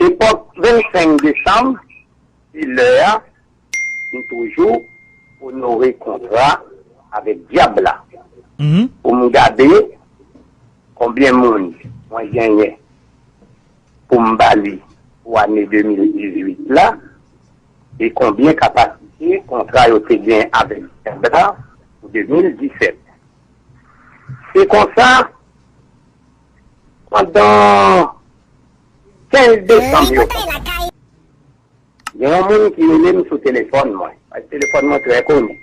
Epòk 25 desanm se lè a m toujou onore kontra avèk dyab la pou m gade konbyen moun mwen genyen pou m ba li pou ane 2018 la. E konbyen kapasite kontra yo te gen avèk Zerba pou 2017. Se konsa, pandan 15 desanm yo, gen yon moun ki rele m sou telefòn mwen, paske telefòn mwen trè koni,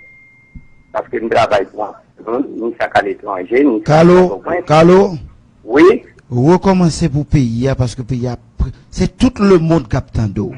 paske m travay pou anpil moun, ni sa k aletranje, ni sa k Pòtoprens. Kalo, kalo, rekòmanse pou peyi a, paske peyi a, se tout lemonn k ap tande w.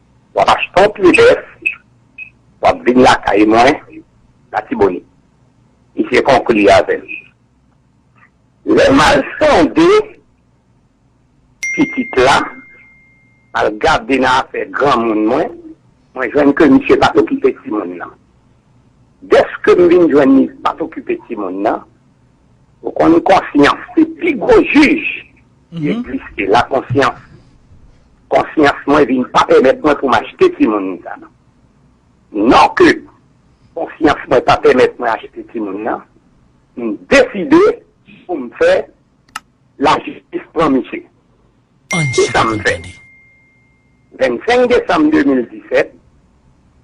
Wap achte yon pye bèf wap vin lakay mwen latibonit. Misye konkli avèm. Lè mal sonde pitit la, mal gade nan afè granmoun mwen, mwen jwenn ke misye pat okipe timoun nan. Dèske m vin jwenn li pat okipe timoun nan, Ou konn konsyans se pi gwo jij ki egziste la konsyans konsyans mwen vin pa pèmèt mwen pou m achte timoun ni sa non non ke konsyans mwen pa pèmèt mwen achte timoun nan m deside pou m fè lajistis pran misye se sa m fè 25 desanm 2017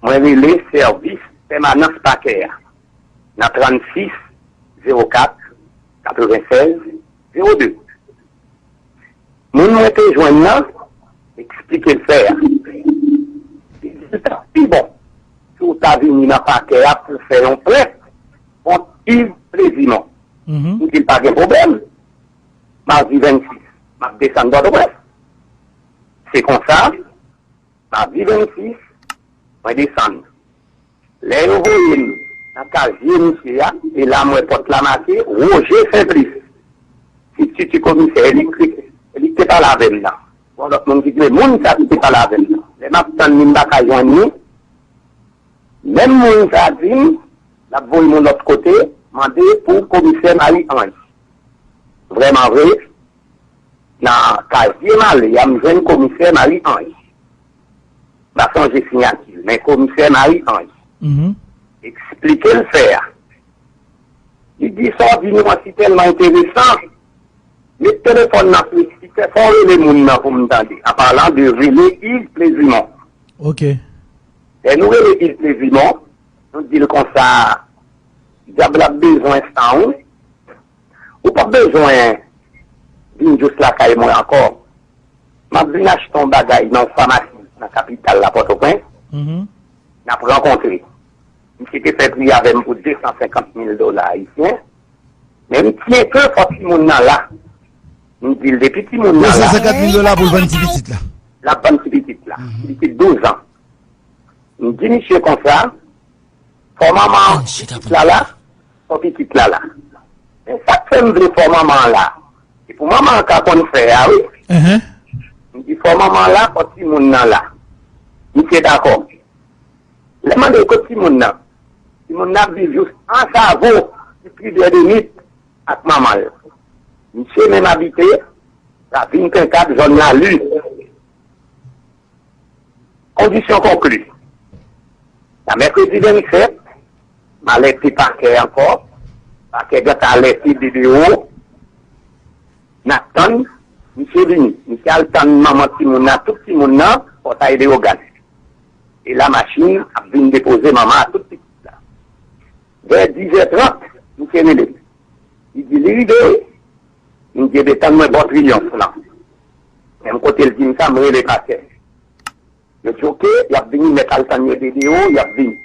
mwen rele sèvis pèmanans pakè a. nan 36 04 96 02. Moun mwen te jwenn nan eksplike l fè a. Li di l t ap pi bon si w ta vini nan pakè a pou w fè yon plent kont Iv Plezimon. M di l pa gen pwoblèm, madi 26 m ap desann Pòtoprens. Se konsa, madi 26, mwen desann. Lè yo voye m nan kazye misye a, e la m wè pòt la make Roger Simplice, sibtiti komisè elektrik, e li ki te pale avè m nan. Gon lòt moun ki dwe moun sa ki te pale avè m nan. Lè m ap tann li m pa ka jwenn li, menm moun sa di m l ap voye m yon lòt kote, mande pou komisè Marie Ange. Vrèman vre, nan kazye m ale a m jwenn komisè Marie Ange. Pa sonje siyati l, men komisè Marie Ange esplike l fè a. Li di, Sa w di nou an si tèlman enteresan, met telefòn nan sou espikè, fè w rele moun nan pou m tande. An palan de rele Yves Plezimon. Ok. Lè nou rele Yves Plezimon, nou di l konsa, Dyab la bezwen san ou, Ou pap bezwen vin jous lakay mwen ankò. M ap vin achte yon bagay nan yon famasi nan kapital la, Pòtoprens. N ap rankontre. Misye te fè pri avè m pou 250 mil dola ayisyen. Men m tyen ke fò timoun nan la. M di l depi timoun nan la. 250 mil dola pou l vann ti pitit la. L ap vann ti pitit la. Ti pitit 12 an. M di misye konsa, fò manman pitit la la. Fò pitit la la. Men sak fèm vle fò manman an la. Se pou manman an ka konn fè a wi. M di fò manman an la fò timoun nan la. Misye dakò. Lèm mande l kot timoun nan. Timoun nan ap viv jous Ansavo pou tridè de nwit ak manman l. Misye menm abite ravin Penkad zòn Lalu. Kondisyon konkli Nan mèkredi 27, m alèti pakè ankò, pakè gentan alèti BDO, n ap tann misye vini. Misye al tann manman timoun nan ak tout timoun nan Pòtay Leyogàn. E la machin ap vin depoze manman ak tout pitit la. Vè dizè trant, misye rele m. Li di li rive wi. M genbe tann mwen bò triyonf lan. Menm kote l di m sa m rele pa tè. Yo di ok y ap vini mèt al tann yo DDO y ap vini.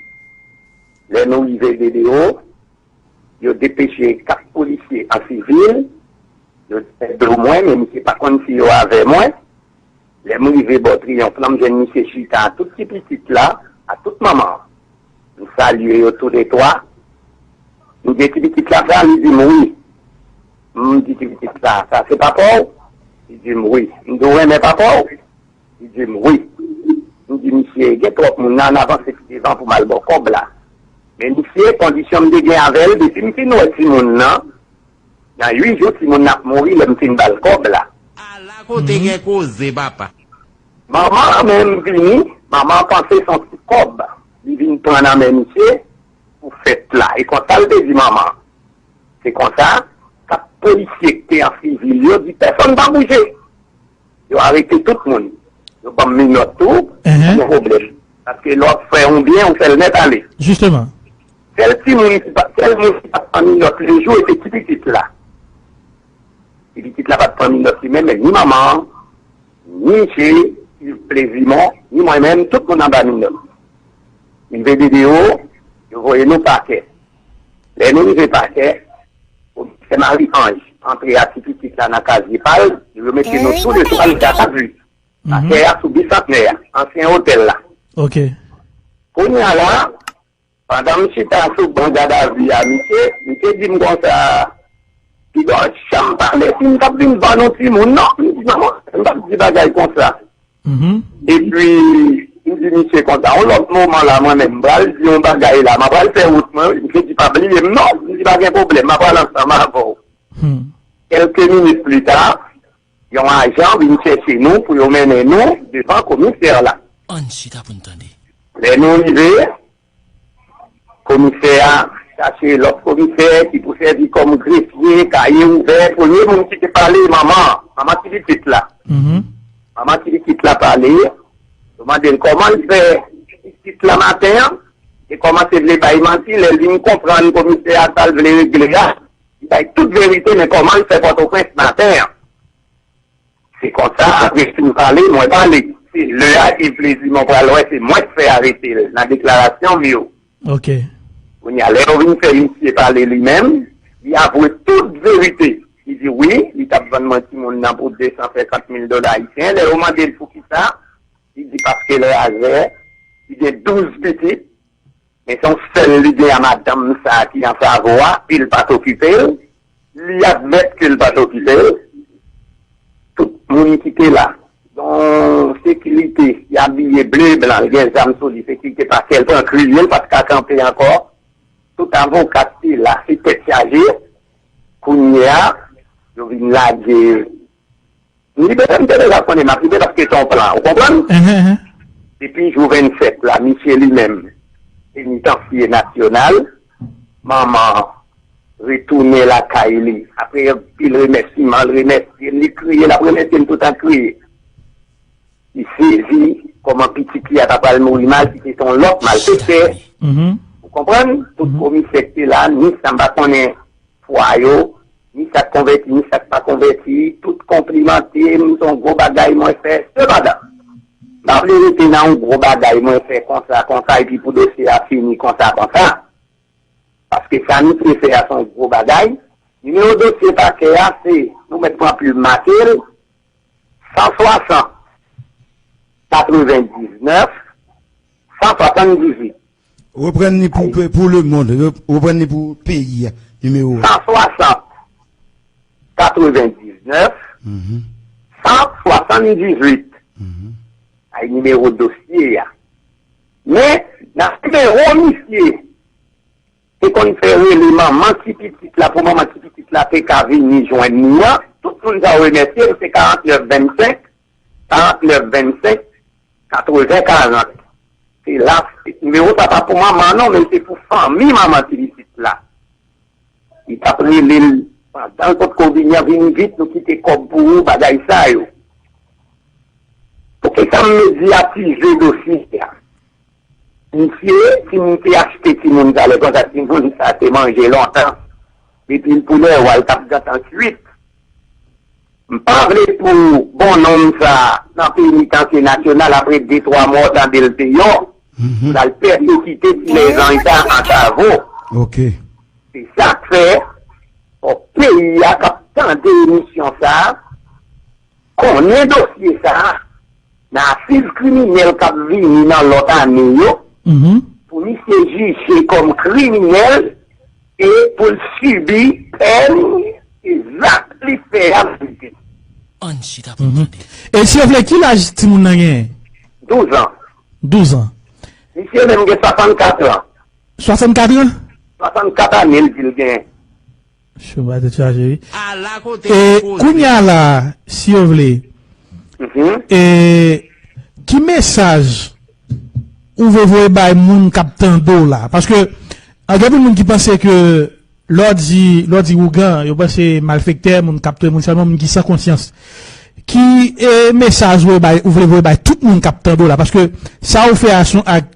Lè nou rive DDO, yo depeche 4 polisye an sivil, yo gen do mwen men misye pa konn si yo avè mwen. Lè m rive bò triyonf lan m jwenn misye chita a tout ti pitit la a tout manman an. M salye yo tou le twa. M di ti pitit la sa? Li di m wi. M di ti pitit la sa se papa w? Li di m wi. M di w renmen papa w? Li di m wi. M di misye gen twòp moun nan, ann avanse pi devan pou m al ba w kòb la. Men misye, kondisyon m te gen avè l depi m fin wè timoun nan, Nan ui jou timoun nan ap mouri lèm fin bal kob la. A la kote gen koze papa. Manman an menm vini, manman an panse son ti kob li vin pran nan men misye pou fèt la e konsal te di manman an. Se konsa 4 polisye k te an sivil yo di pèsonn pa bouje. Yo arete tout moun. Yo banm minòt tou, pa gen pwoblèm. Paske lè w ap fè yon byen, ou fè l nèt ale. Jisteman. Sèl ti moun ki pa, sèl moun ki pa pran minòt tou le jou e se ti pitit la. Ti pitit la pa t pran minòt li menm, men ni manman an, ni misye Iv Plezimon, ni mwen menm, tout moun anba minòt. Rive 2 de ou, yo voye nou pakè. Lè nou rive pakè. Komisè Marie Ange antre ak ti pitit la nan kazye pa l, yo mete nou tou de twa nou ata pli atè a sou Bisantnè a, ansyen otèl la. Kounye a la, pandan m chita sou ban gadavi a misye, misye di m konsa, Kidonk, Cham pa mèsi m t ap vin ban nou timoun non. M di non, m p ap di bagay konsa. Epi m di misye konsa yon lòt moman la mwen menm m pral di yon bagay la, m pral fè wout mwen wi, misye di pa bliye m non, m di pa gen pwoblèm m pral ansanm avè w. Kèlke minit plita, yon ajan vin chèche nou pou yo mennen nou devan komisè la. Lè nou rive. Komisè a chache lòt komisè ki pou sèvi kòm grefye, kaye ouvè, premye moun ki te pale manman, manman ti pitit la. Manman ti pitit la pale, yo mande l kòman l fè pitit la maten an, li kòmanse vle bay manti, lè l vin konprann komisè a sa l vle regle a, li bay tout verite men kòman l fè Pòtoprens maten an. Se konsa apre fin pale mwen pale. Se lè a Iv Plezi mwen pral wè se mwen k fè arete l nan deklarasyon m yo. Ok. Kounye a lè yo vin fè misye pale li menm, li avwe tout verite. Li di wi li t ap vann mwen timoun nan pou 250 mil dola ayisyen. Lè yo mande l poukisa, li di paske l razè, li gen 12 pitit. Men son sèl li gen a madanm sa ki an favo a pil pat okipel li admèt kel pat okipel tout moun kite la gon sekirite ki abiye ble e blan li gen zam sou li sekirite pakel pran kriye li pat ka kanpe ankò tout avoka kite la se tèt chaje kounyea yo vin lage M libe lè m te deja konnen map libe paske se yon plan ou konprann depi jou 27 la misye li menm penitansye nasyonal manman retounen lakay li apre anpil remèsiman l remèsye m li kriye lap remèsye m tout an kriye li sezi kòman pitit li a ta pral mouri mal si se te yon lòt malfektè ou konprann tout komisè k te la ni sa m pa konnen fwa yo. Ni sa k konvèti ni sa k pa konvèti, tout konplimante m, s on gwo bagay mwen fè. Sepandan, m pa vle rete nan on gwo bagay mwen fè konsa konsa epi pou dosye a fini konsa konsa. Paske sa Miche fè a s on gwo bagay. Nimewo dosye pakè a se, nou mèt pran plim make l, 160 99 178. Reprann li pou le mond. Reprann li pou peyi a. Nimewo. 160 99 178. Ay nimewo dosye a. Men, nan nimewo misye te konn fè rele manman ki pitit la pou manman ki pitit la te ka vini jwenn li an. Tout moun sa yo remèsye m. Se 49 25. 49 25 80 40 se la nimewo sa pa pou manman non men se pou fanmi manman ti pitit la li tap relel pandanl potko vini an vini vit nou kite kob pou ou bagay sa yo poukisa m medyatize dosye a misye si m te achte timoun sa lè konsa timoun sa te manje lontan depil poulè wa l tap gentan kuit. M pa vle pou bon nonm sa nan penitansye nasyonal apre de twa mwa w tande l deyò l al pèsekite ti lèzanj sa an kavo se sa k fè fòk peyi a k ap tande emisyon sa konnen dosye sa. Nan asiz kriminèl k ap vini nan lòt ane yo, pou misye jije kòm kriminèl e pou l sibi pèn ke zak li fè a merite. E si yo vle, ki laj timoun nan genyen? Douz an. Douz an. Misye menm gen swasannkat an. Swasannkat an? Swasannkat ane l di l genyen. Choma tèt chaje wi. Ala kote yo poze bagay. Kounya la si yo vle ki mesaj ou vle voye bay moun kap tande w la paske gen anpil moun ki panse ke lè w di lè w di ougan yo panse malfektè moun kap touye moun sèlman moun ki san konsyans ki mesaj ou vle voye bay tout moun kap tande w la paske sa ou fè a son ak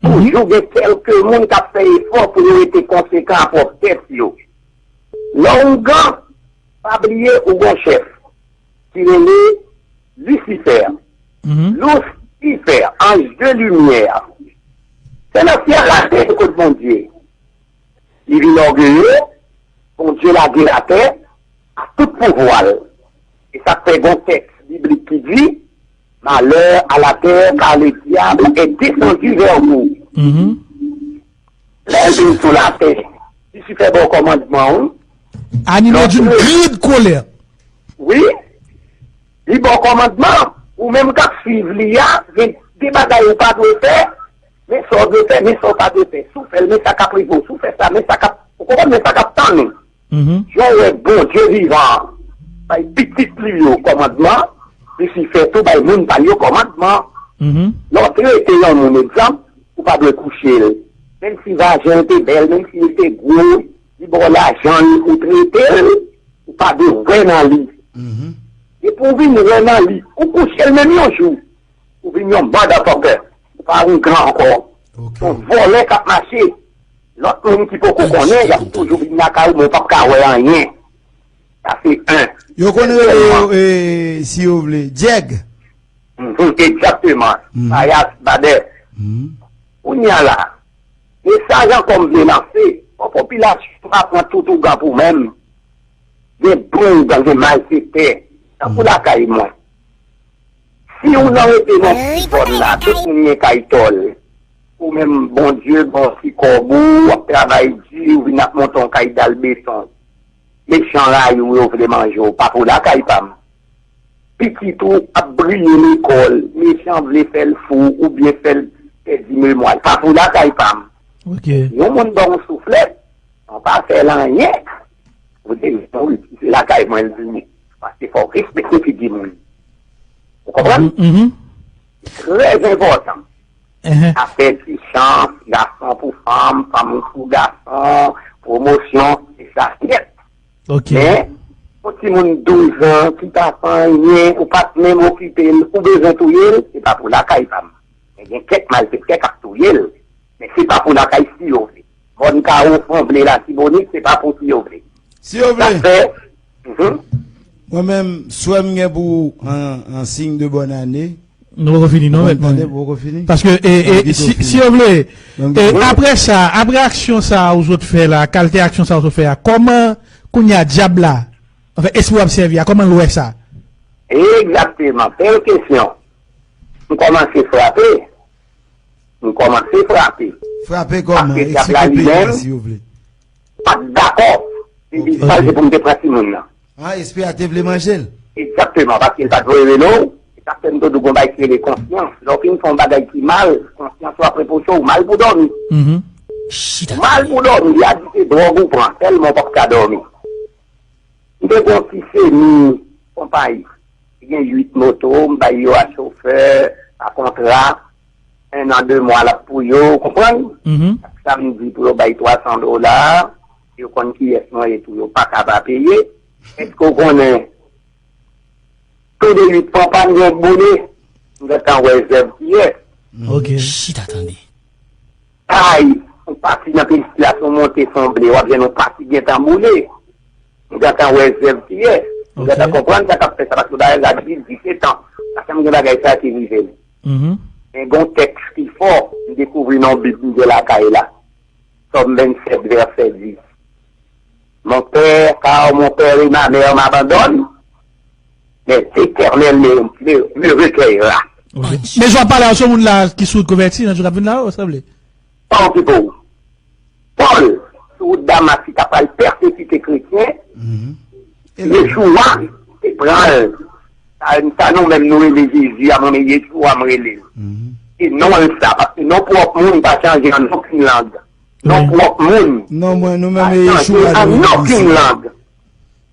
Toujou gen kèlke moun k ap fè efò pou yo rete konsekan a pwòp tèt yo. Lè w ougan, pa bliye ou gen yon chèf ki rele Lisifè, Lus i fè, anj de limyè. Se nan syèl la te ye kot Bondye. Li vin ògeye, Bondye lage l atè ak tout pouvwa l. Se sa k fè gen yon tèks biblik ki di, Malheur à la terre car le diable est descendu vers vous. Lè l vin sou latè, Lisifè ba w kòmandman ou. Anime d'une grande colère. Wi. Li ba w kòmandman. Ou menm k ap suiv li a, gen de bagay ou pa dwe fè. Men sa w dwe fè, men sa w pa dwe fè. Si w fè l, men sa k ap rive w. Si w fè sa, men sa k ap, ou konprann, men sa k ap tann ou. Jan w wè Bondye vivan an bay pitit li yo kòmandman, Lisifè tou bay moun pa l yo kòmandman. Lè w trete yon moun egzanp, ou pa dwe kouche l. Menmsi vajen l te bèl, menmsi l te gwo, li ba w lajan l pou w trete l, ou pa dwe wè nan li. Depi w vin wè nan li, ou kouche l menm yon jou, ou vin yon mòdètòkè. Ou pa ougan ankò. Son vòlè kap mache. Lòt moun ki poko konnen yap toujou vin lakay ou men ou pap ka wè anyen. Sa se 1. Yo konn rele yo e si yo vle Dyèg. Egzakteman. Payas badè. Kounya la, mesaj ankò m vle lanse, fò popilasyon pa pran tout ougan pou menm. Gen bon ougan, gen malfetè. Tankou lakay mwen. Siw nan rete nan ti zòn la tout moun gen kay tòl ou menm Bondye ban w ti kòb ou wap travay di ou vin ap monte yon kay dal beton mechan rayi w yo vle manje w pa pou lakay pam pitit ou ap briye lekòl mechan vle fè l fou oubyen fè l pèdi memwa l pa pou lakay pam yon moun ban w souflèt an pa fè l anyen ou di se lakay mwen l vini paske fòw respekte figi moun. Ou konprann? Trè enpòtan. Afè pwisans, gason pou fanm, fanm pou gason, pwomosyon, se sa nèt. Men, yon timoun 12 an ki pa fè anyen, ou pa t menm okipe l, ou bezwen touye l, se pa pou lakay pa m. Men gen kèk malfektè k ap touye l. Men se pa pou lakay si yo vle. Mòn kawo, Fonvle, Latibonit se pa pou si yo vle. Si yo vle! Sa fè, uhmm. Mwen menm, swè m gen pou an signe de bonne année. Nou poko fini non mèt mwen. Paske si yo vle, aprè sa, aprè aksyon sa ou sot fè la, kalte aksyon sa ou sot fè a, kòman kounye a dyab la, anfen espri wap sèvi a, kòman l wè sa? Egzakteman, bèl kesyon. M kòmanse frape. M kòmanse frape. Frape kòman? Paske dyab la li menm pa t dakò. Li di sa l se pou m te pran timoun nan. Ah espri a te vle manje l? Egzakteman, paske l pa t voye rele w. Se sa k fè m toujou gen yon bagay ki rele konsyans. Lè w fin fè yon bagay ki mal, konsyans ou ap repwoche w. Ou mal pou dòmi. Ou mal pou dòmi. Li a di se dwòg ou pran, tèlman ou pap ka dòmi. M te gen yon ti semi konpayi ki gen 8 moto, m bay yo a chofè pa kontra, 1 an 2 mwa l ap pou yo, ou konprann? Chak samdi pou yo bay 300 dola, yo konn kiyès mwen ye tou, yo pa ka pa peye. Èske ou konnen, tou de 8 fran pa m gen bone, m gen tan wè zèv kiyès. Ok. Chita tande. Kay yon pati nan peysi a son monte son ble wap jwenn yon pati gentan boule m gentan wè zèv kiyè m gentan konprann sa kap fè sa paske bagay la depi 17 ans pakem gen bagay sa ki rivem men gon tèks ki fò m dekouvri nan bib m gen lakay la Sòm 27 vèsè 10 mon pè car mon père et ma mère m'abandonnent Men Letènèl me rekèyra. Men jan w pale a yo se moun la ki sou wout konvèti nan jou k ap vin la yo sanble. Pòl ki pou ou? Pòl sou wout Damas ki t ap pral pèsekite kretyen, Yechouwa te pran l, sa nou menm nou rele Jezi a mwen men Yechouwa m rele l, se non l sa paske non pwòp moun pa chanje an okenn lang, non pwòp moun pa chanje an okenn lang.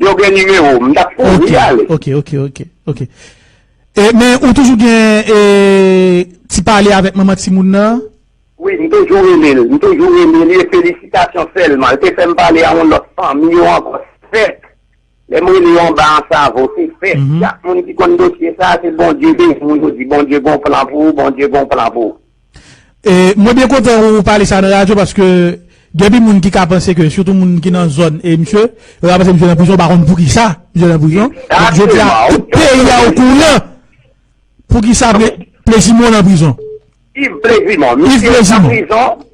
Yo gen nimewo m tap pou ri ale. Ok ok ok ok e men ou toujou gen e ti pale avèk manman timoun nan? Wi m toujou rele l m toujou rele li e felisitasyon sèlman l te fèm pale a yon lòt fanmi yo ankò fèk lè m rele yo anba ansavo se fèk chak moun ki konn dosye sa se Bondye beni w yo di Bondye gon plan pou ou Bondye gon plan pou ou. Mwen byen kontan ou pale sa nan radyo paske gen anpil moun ki ka panse ke sitou moun ki nan zòn e misye yo ka panse misye nan prizon pa konn poukisa misye nan prizon donk jodi a tout peyi a okouran poukisa Plezimon nan prizon Yves Plezimon misye nan prizon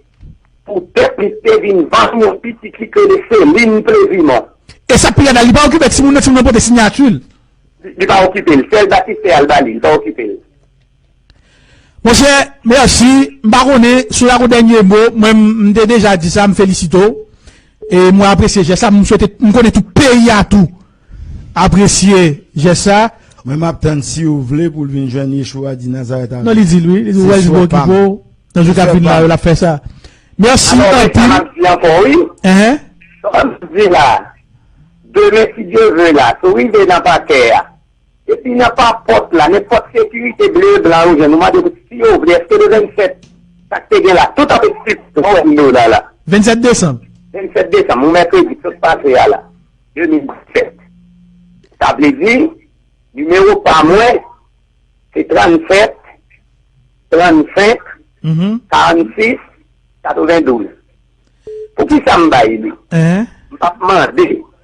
pou tèt li te vin vann yon pitit li ke li Céline Plezimon E sak pi rèd la li pa okipe timoun nan timoun nan pote sinyati l. Li pa okipe l, sèl batistè a l ba li, li pa okipe l. Monchè merci m pa konnen si w ta gon dènye mo mwen m te deja di sa m felisite w e mwen apresye jès la m swete m konnen tout peyi a tou apresye jès sa. Mwen map tann siw vle poul vin jwenn Yeshua di Nazareth avèw. Non li dil wi, li di Welz bro ki pouw nan jou kap vin la yo lap fè sa. Merci anpil. Alò sa map di ankò wi. Ehe. Sa map di la, demen si Dieu veut la, sou rive nan pakè a. Depi nan pa pòt la, nenpòt sekirite ble, blan, rouj, jan, nou mande yo si yo vle, èske le 27 sa k te gen la tout ap ekspire jan w wè nimewo nan la. 27 desanm. 27 desanm, yon mèkredi sot pase a la, 2017. Sa vle di, nimewo pa mwen se 37, 35, 46, 92. Poukisa m bay li? M pa p mande.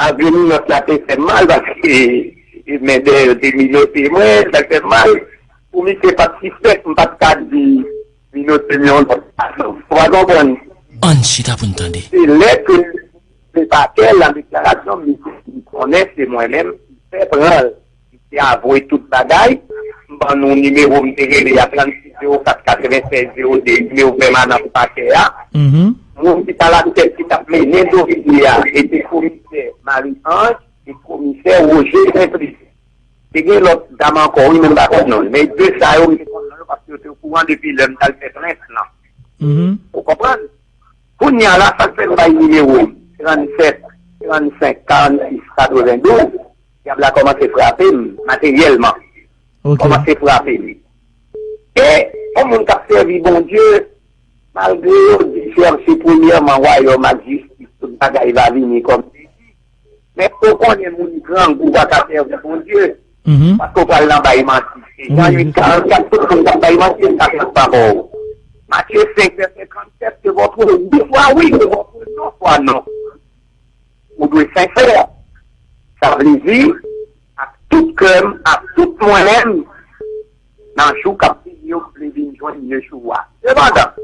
Anvenimans la te fè m mal paske men dèyè yo te minote mwen, sa te fè m mal pou misye pa t sispèk m pa t ka di minote m yon lòt fason. Ou pa konprann? Ann chita pou n tande. Se lè ke se pa kè lan deklarasyon misye fin konnen se mwen menm ki fè pran l. M te avwe tout bagay. M ban nou nimewo m te rele a, 3604 9602, nimewo pèmanan pou pakè a. Moun ki ta latèt ki t ap mennen dosye a ete komisè Mari Ange e komisè Woje Senplis. Te gen lòt dam ankò wi men m pa konn non l. Men e de sa yo m te konn non yo paske yo te okouran depi lè m t al fè plent lan. Ou konprann? Kounye a la sa k fè m bay nimewo 37 35 46 92, Dyab la kòmanse frape m materyèlman. Li kòmanse frape m. E yon moun k ap sèvi Bondye, malgre yo di chèche premyèman Wayòm ak jistis, tout bagay va vini kòm li di. Men ou konnen moun grangou pa ka sèvi Bondye, paske ou pral nan bay manti. Se Jan 8, 44, tout moun k ap bay manti yo pa k nan favò ou. Matye 5 vèsè 37, Se vòtre wi fwa wi, se vòtre non fwa non. Ou dwe sensè, sa vle di ak tout kè m, ak tout mwayen m, nan jou k ap vini yo, m vle vin jwenn Yeshua. Sepandan,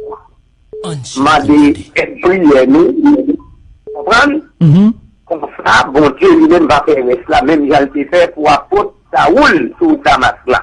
mande èd priyè nou, konprann? Konsa, Bondye li menm va fè rès la, menm jan l te fè pou apot Saúl sou wout Damas la.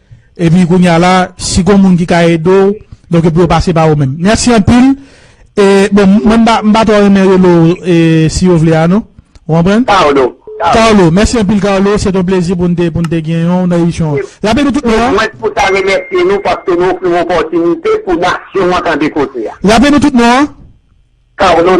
Epi kounya la si gon moun ki ka ede w donk epi yo pase pa ou menm. Mèsi anpil e bon mwen m pa twò renmen rele w e si yo vle a non. Ou konprann? Carlo. Carlo. Mèsi anpil Carlo, se te yon plezi pou n te pou n te gen yon nan emisyon an. Raple nou tout non an. Mwen pou ta remèsye nou paske nou ofri m opòtinite pou nasyon an tande koze a. Raple nou tout non an. Carlo.